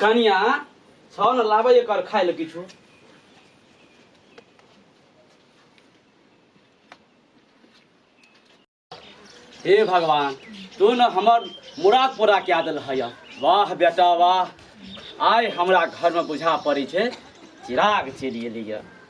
कनिया छौ न लाबै एकर खाय लए किछु हे भगवान तू न हमर मुराद पूरा कए देल है वाह बेटा वाह आइ हमरा घरमे बुझा पड़ै छै चिराग चलि गेलैए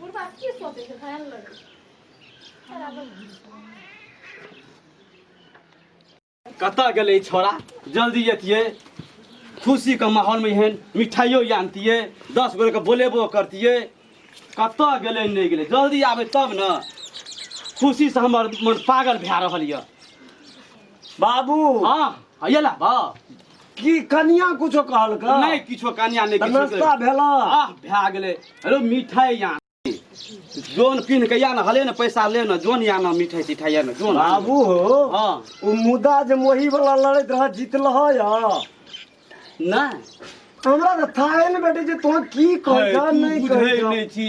बुढ़बा की सोचै छै खाय लगै कतऽ गेलै छोरा जल्दी अतियै खुशीके माहौलमे एहन मिठाइयो आनतियै दस गोरेके बोलेबो करतियै कतऽ गेलै नहि गेलै जल्दी आबै तब ने खुशीसँ हमर मन पागल भए रहल यऽ बाबू हाँ अयला बा की कनिया कुछो कहलक नहि किछो कनिया नहि किछो नाश्ता भेला आह भए गेलै हेलो मिठाई या जोन पिन्ह के या ने हले ने पैसा ले ने जोन या ने मिठाई तिठाई या ने जोन बाबू हो हाँ ओ मुदा जे मोही वाला लड़ैत रह जीतल ह या नहि हमरा तऽ थाहे ने बेटे जे तोहर की कहै जा तू नहि बुझै कहै जा नहि छी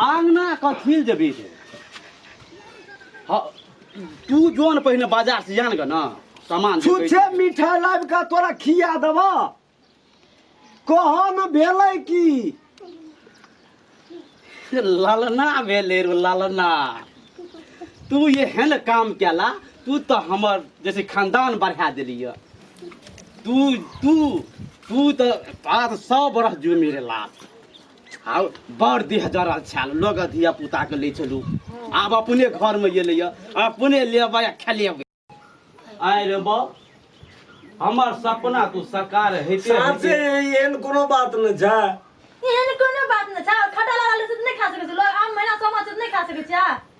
आंगना कथी लए जेबी रे हँ, तू जो ने पहिने बाजार से जान गे ना सामान जे कहै छुच्छे छै। मिठाई लाइब का तोरा खिया देब कह न भेलै की लालना भेले रे लालना तू एहन काम केला तू तो हमर जैसे खानदान बढ़ा देली है। तू तू तू तो बात सौ बरस जुमी रे लाल आ बड़ देह जरल छल लोग धिया पुता के ले चलू आब अपने घर में गेले या अपने लेबै आ खेलेबै आय रे बा हमर सपना तू साकार हेते साँचे हेते। एहन कोनो बात नहि छै एहन कोनो बात नहि छै खटा लागल छै तऽ नहि खा सकै छी लोग आम महीना समा छै तऽ नहि खा सकै छियै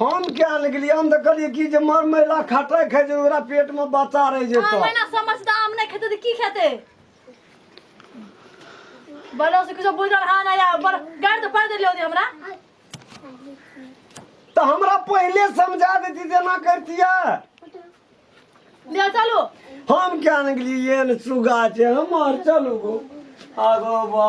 हम क्या ने गेलियै हम तऽ कहलियै कि जे मर महिला खटै खाइ छै ओकरा पेटमे बच्चा रहि हँ, जेतौ महिना समझता आम नहि खेतै तऽ की खेतै बड़ो से किछो बुझल हँ नहि आ बड़ गाड़ि तऽ पड़ि देलियै ओदी हमरा तऽ हमरा पहिले समझा देती जेना करतियै लिया चलू हम क्या ने गेलियै एहन सुगा छै हमर चलू गो आगो बा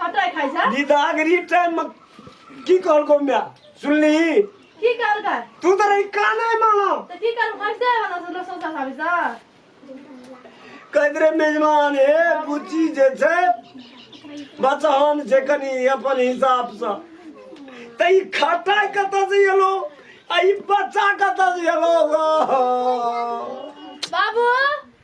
कतय खाइ छै निदागरी टाइम में की कहलको मैं सुनली की कहलकै तू तो रही का नहीं मानो तऽ की करब कैसे वाला से लोग सोचा साबी सा कहते रहे मेजमान हे बुच्ची जे छै बचहन छै कनी अपन हिसाब से तऽ ई खटाइ कतऽ से एलो आ ई बच्चा कतऽ से एलो गो बाबू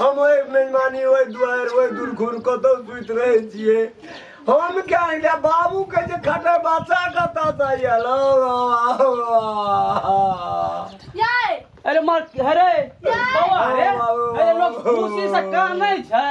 हम ओहि मेहमानी ओहि दुआरि ओहि दुर्घुर कतौ सुति रहै छियै हम क्या एकटा बाबू के जे खटे बच्चा कतऽ से आयल यै अरे मार अरे बाबा रे अरे लोग खुशी से कानै छै